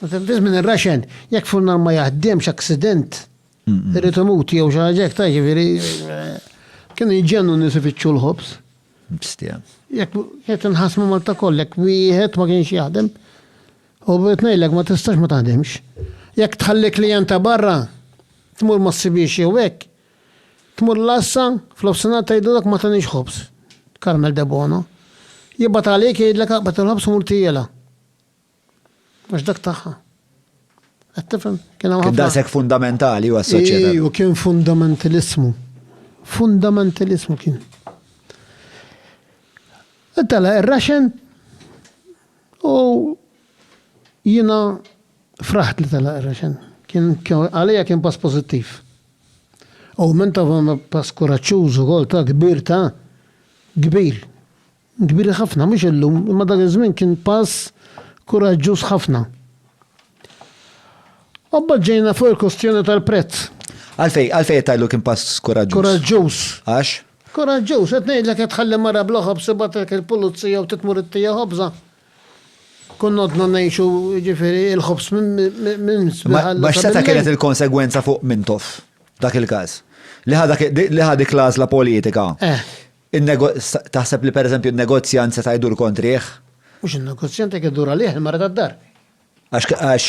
Meta tqis minn ir-raxen, jekk furnar ma jaħdimx, aksident, irid imut jew xi ħaġa hekk, ta' jiġifieri kienu jiġġennu n-nies ifittxu l-ħobż. Bstia. Jekk qed inħassmu Malta kollha, jekk wieħed ma kienx jaħdem, u bdiet ngħidlek ma tistax ma taħdimx. Jekk tħalli klijent ta' barra, tmur ma ssibiex jew hekk, tmur l-għassa, fl-ofsinhar tgħidulek ma taniex ħobż, Carmel Debono. Jibgħat għalik jgħidlek aqbad il-ħobż u mur tiegħela. Mhux dak tagħha. Qed tifhem? Kien hawn ħafna. Daqshekk fundamentali u assoċjata. U kien fundamentalismu. Fundamentalismu kien. Tala ir-raxen u jina fraħt li tala ir-raxen. Kien għalija kien pass pozittiv. U minn ta' pass kuraċċuż ukoll ta' kbir ta' kbir. Kbir ħafna, mhux illum, imma dak iż-żmien kien pass kuraġġuż ħafna. U mbagħad ġejna fuq il-kwistjoni tal-prezz. Għalfejn, għalfejn qed tgħidlu kien pass kuraġġuż? Kuraġġuż. Għax? Kuraġġuż, qed ngħidlek qed tħalli mara bla ħobż ibagħtilek il-pulizija u titmur ittieha ħobżha. Konna għadna ngħixu, jiġifieri, il-ħobż minn spiħal. Ma x'seta' kienet il-konsegwenza fuq Mintoff dak il-każ? Li ħa dik l-għażla politika. Eh. Taħseb li pereżempju n-negozjant seta' jdur kontrih? Mhux in-negozjant jekk idur għalih il-mara tad-dar. Għax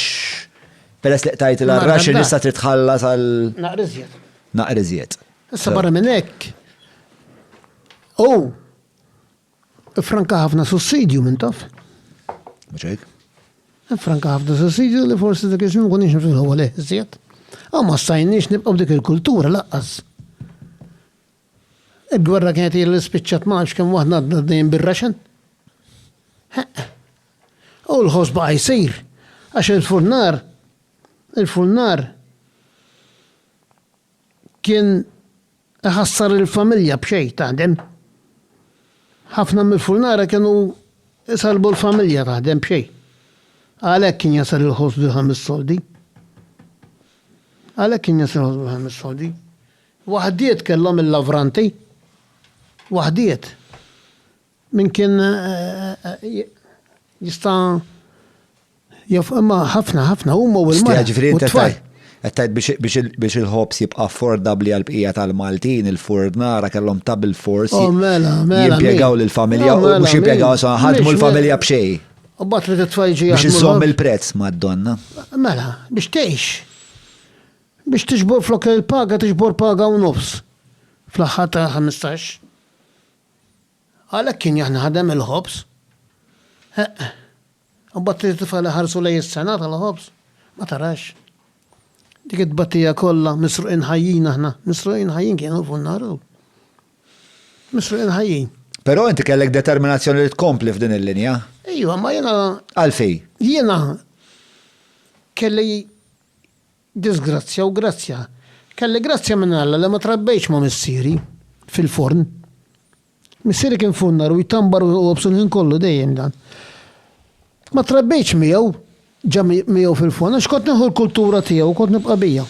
peress li qtajt l-arrax li issa trid tħallas għal. Naqra iżjed. Naqra iżjed. Issa barra minn hekk. Hu franka ħafna sussidju minn taf. Mhux hekk? Franka ħafna sussidju li forsi dak iż-żmien kun nixhom fil-ħewwa leh iżjed. Aw ma stajniex nibqgħu dik il-kultura laqqas. Il-gwerra kienet hi li spiċċat ma nafx kemm waħda għadna għaddejjin bir-raxen. Heqqa. U l-ħoss baqa' jsir għax il-furnar il-furnar kien iħassar il-familja b'xejn taħdem. Ħafna mill-furnara kienu isalbu l-familja taħdem b'xejn. Għalhekk kien jasal il-ħoss bil-ħames soldi. Għalhekk kien jasal il-ħoss bil-ħames soldi. Waħdiet kellhom il-lavranti, waħdiet. Min kien jista' jaf imma ħafna ħafna huma u l-mara. Ġifieri inti qed tgħid biex il-ħobż jibqa' affordabbli għall-bqija tal-Maltin, il-furnara kellhom ta' bilfors oh, mela, mela, jimpjegaw lill-familja u mela, mhux jimpjegaw sa ħadmu l-familja b'xejn. U bat li titfajġi Biex iżomm il-prezz mad-donna. Mela, biex tgħix. Biex tiġbor flok il-paga tiġbor paga u nofs fl-aħħar tal-ħmistax. Għalhekk kien jaħdem il-ħobż. Eqq. U mbagħad trid tifgħel iħarsu lejn is-sena tal-ħobż. Ma tarax. Dik it-tbatija kollha misruqin ħajjin aħna, misruqin ħajjin kienu fuq naru. Misruqin ħajjin. Però inti kellek determinazzjoni li tkompli f'din il-linja. Ejwa, ma jiena. Għalfej? Jiena kelli Disgrazzja u grazzja. Kelli grazzja minn Alla li ma trabbejtx ma' missieri fil-forn. Missieri kien funnar u jtambar u jqobsu l-ħin kollu, dejjem dan. Ma trabbejtx miegħu, ġa miegħu fil-forn, għax kont nieħu l-kultura tiegħu u kont nibqa' biha.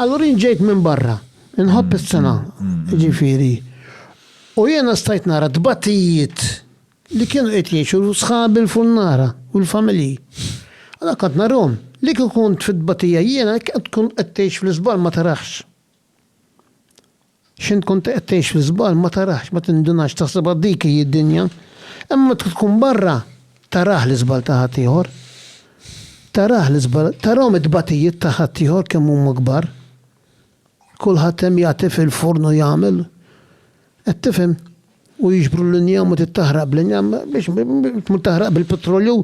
Allura jien ġejt minn barra, inħobb is-sengħa, jiġifieri, u jiena stajt nara t-tbatijiet. li kienu qed jgħixu sħabi l-funnara u l-familji. Allura kont narahom. Li kieku kont fit-tbatija jiena jekk int tkun qed tgħix fl-iżball ma tarax. X'int tkun qed tgħix fl-iżball ma tarax, ma tindunax, taħsibha dik hi d-dinja. Imma meta tkun barra tarah l-iżball ta' ħaddieħor. Tarah l-iżball, tarahom it-tbatijiet ta' ħaddieħor kemm huma kbar. Kulħadd hemm jagħti fil-furn u jagħmel. Qed tifhem? U jiġbru l-injam u tittaħraq bl-injam biex tmur taħraq bil-pitrolju.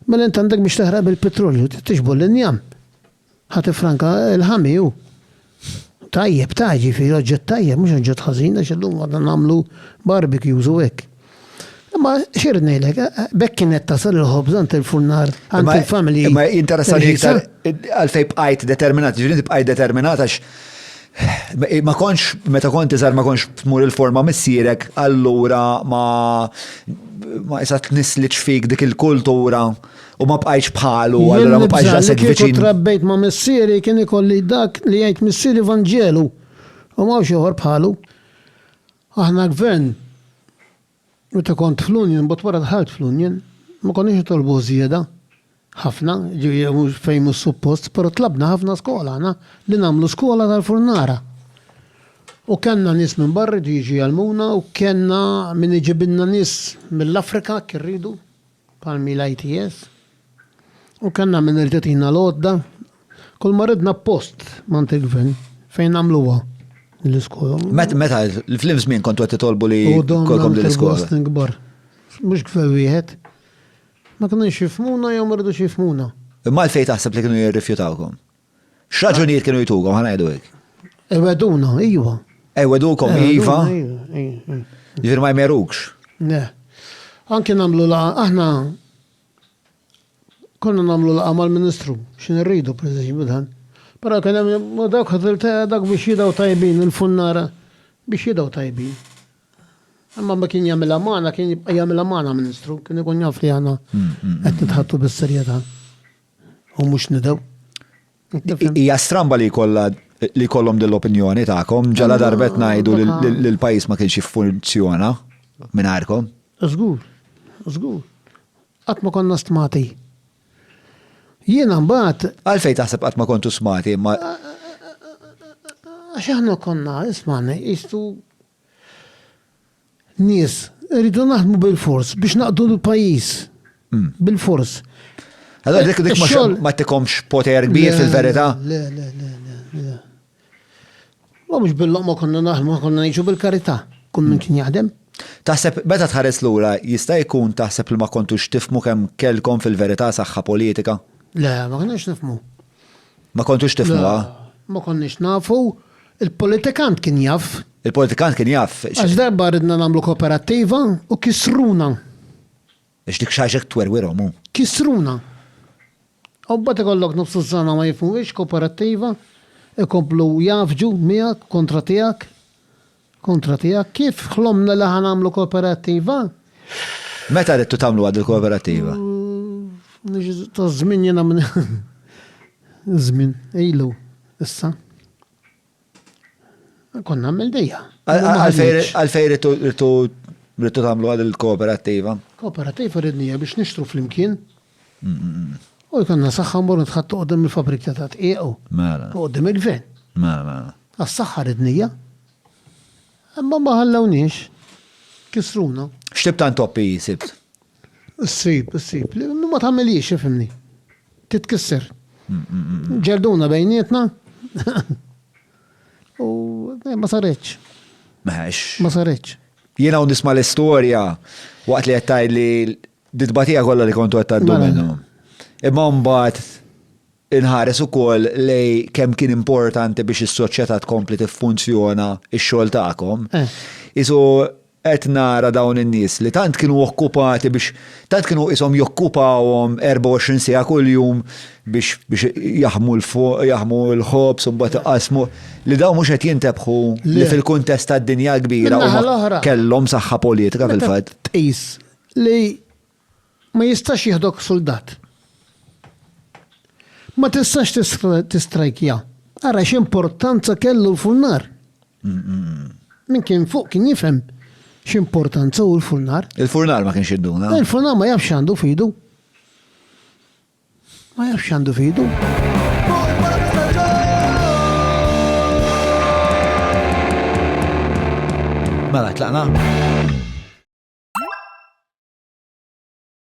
Mela int għandek biex taħraq bil-pitrolju, tiġbor l-injam. Ħa tifranka l-ħami hu. Tajjeb, ta' ġifieri oġġett tajjeb, mhux oġġett ħażin għax illum għadna nagħmlu barbecues u hekk. Imma xirrid ngħidlek, eh, eh, bekk kienet tasal il-ħobż għand il-furnar, għand il-familji. Imma interessani iktar għalfej bqajt determinat, ġifieri bqajt determinat għax eh, ma konx, meta konti zar ma konx tmur il-forma missierek, allura ma ma jisat nisliċ fik dik il-kultura u ma bqajx bħalu, allura ma bqajx għasek viċin. Trabbejt ma missieri kien ikolli dak li jgħid missieri Vangelu u ma xoħor bħalu. Aħna gvern, meta kont fl-Union, mbagħad wara dħalt fl-Union, ma konniex nitolbu żieda ħafna, jiġifieri fejn mhux suppost, però tlabna ħafna skola aħna li nagħmlu skola tal-Furnara. U kellna nies minn barra jridu jiġu jgħallmuna u kellna min iġibilna nies mill-Afrika jekk irridu. Palmi l-ITS, u kellna min jerġa' tina l-għodda. Kull ma ridna post mant il-gvern fejn nagħmluha l-iskola. Meta fl-im żmien kontu qed titolbu li kolkom din l-iskola. Mhux gvern wieħed. Ma kienux jifmuna jew ma ridux jifmuna. Imma għalfejn taħseb li kienu jirrifjutawkom? X'raġunijiet kienu jtukom ħa ngħidu hekk? Iweduna, iva. Iwedukom, iva. Ġifier ma jmerukx. Le. Anki nagħmlu la aħna konna nagħmlu la mal-Ministru, x'in irridu pereżempju dan. Però kien hemm dawk ħadilta dak biex jidaw tajbin il-funnara biex jidaw tajbin. Imma ma kien jagħmilha magħna, kien jibqa' jagħmilha magħna Ministru, kien ikun jaf li aħna mm, mm, mm. qed nitħattu bis-serjetà. u mhux nidew. Hija stramba li jkollha li kollhom dell-opinjoni tagħkom ġala darbet ngħidu li l-pajjiż ma kienx jiffunzjona mingħajrkom. Żgur, żgur. Qatt ma konna stmati. Jiena mbagħad. Għalfejn taħseb qatt ma kontu smati ma. Għax aħna konna, ismani, jistu Nies, irridu naħdmu bil-fors biex naqdu l-pajjiż. Hmm. Bil-fors. Allora dik dik ma tikomx poter kbir fil-verità. Le, le, le, le. Ma mhux bil-loqma konna naħdmu konna ngħixu bil-karità. Kull min kien jaħdem. Taħseb meta tħares lura jista' jkun taħseb li ma kontux tifmu kemm kellkom fil-verità saħħa politika? Le, ma konniex nifmu. Ma kontux tifhmuha? Le, ma konniex nafu. Il-politikant kien jaf. Il-politikant kien jaf. Għax darba ridna nagħmlu koperattiva u kisruna. Għax dik xaġa twerwirhom hu. Kisruna. U mbagħad ikollok nofs iż-żona ma jifhmuhiex koperattiva, ikomplu jgħaffġu miegħek, kontra tiegħek. Kontra tiegħek, kif ħlomna li ħa nagħmlu kooperattiva? Meta ridtu tagħmluha dil-kooperattiva? Ta' żmien jiena minn żmien ilu issa. Konna nagħmel dejja. Għalfejn ridtu tagħmluha dil-kooperattiva? Kooperattiva ridnija biex nixtru flimkien. U jkollna saħħa mmorru nitħattgħu quddiem il-fabbrika ta' dqiq u quddiem il-gvern. Għas-saħħa ridnija. Imma ma ħallewniex. Kisruna. X'tip ta' intoppi hi sibt? Issib, issib. Ma tagħmilhiex, ifhimni. Titkisser. Ġelduna bejnietna. U eh, ma saretx. Meħx. Ma saretx. Jiena u nisma' l-istorja waqt li qed li Ditbatija kollha li kontu qed tgħaddu mela. minnu. Imma mbagħad inħares ukoll lej kemm kien importanti biex is-soċjetà tkompli tiffunzjona x-xogħol tagħkom. Eh. Isu qed nara dawn in-nies li tant kienu okkupati biex tant kienu ishom jokkupawhom 24 sija kuljum biex biex jaħmu l-fuq, jaħmu l-ħobs u mbagħad iqasmu li dawn mhux qed jintebħu li fil-kuntest tad-dinja kbira kellhom saħħa politika fil-fatt. Tqis Li ma jistax jieħdok suldat. Ma tistax tistrajkja. Ara x'importanza kellu l-furnar. Min kien fuq kien jifhem x'importanza hu l-furnar. Il-furnar ma kienx idduna. Il-furnar ma jafx għandu fidu. Ma jafx x'għandu f'idu. Mela, tlaqna?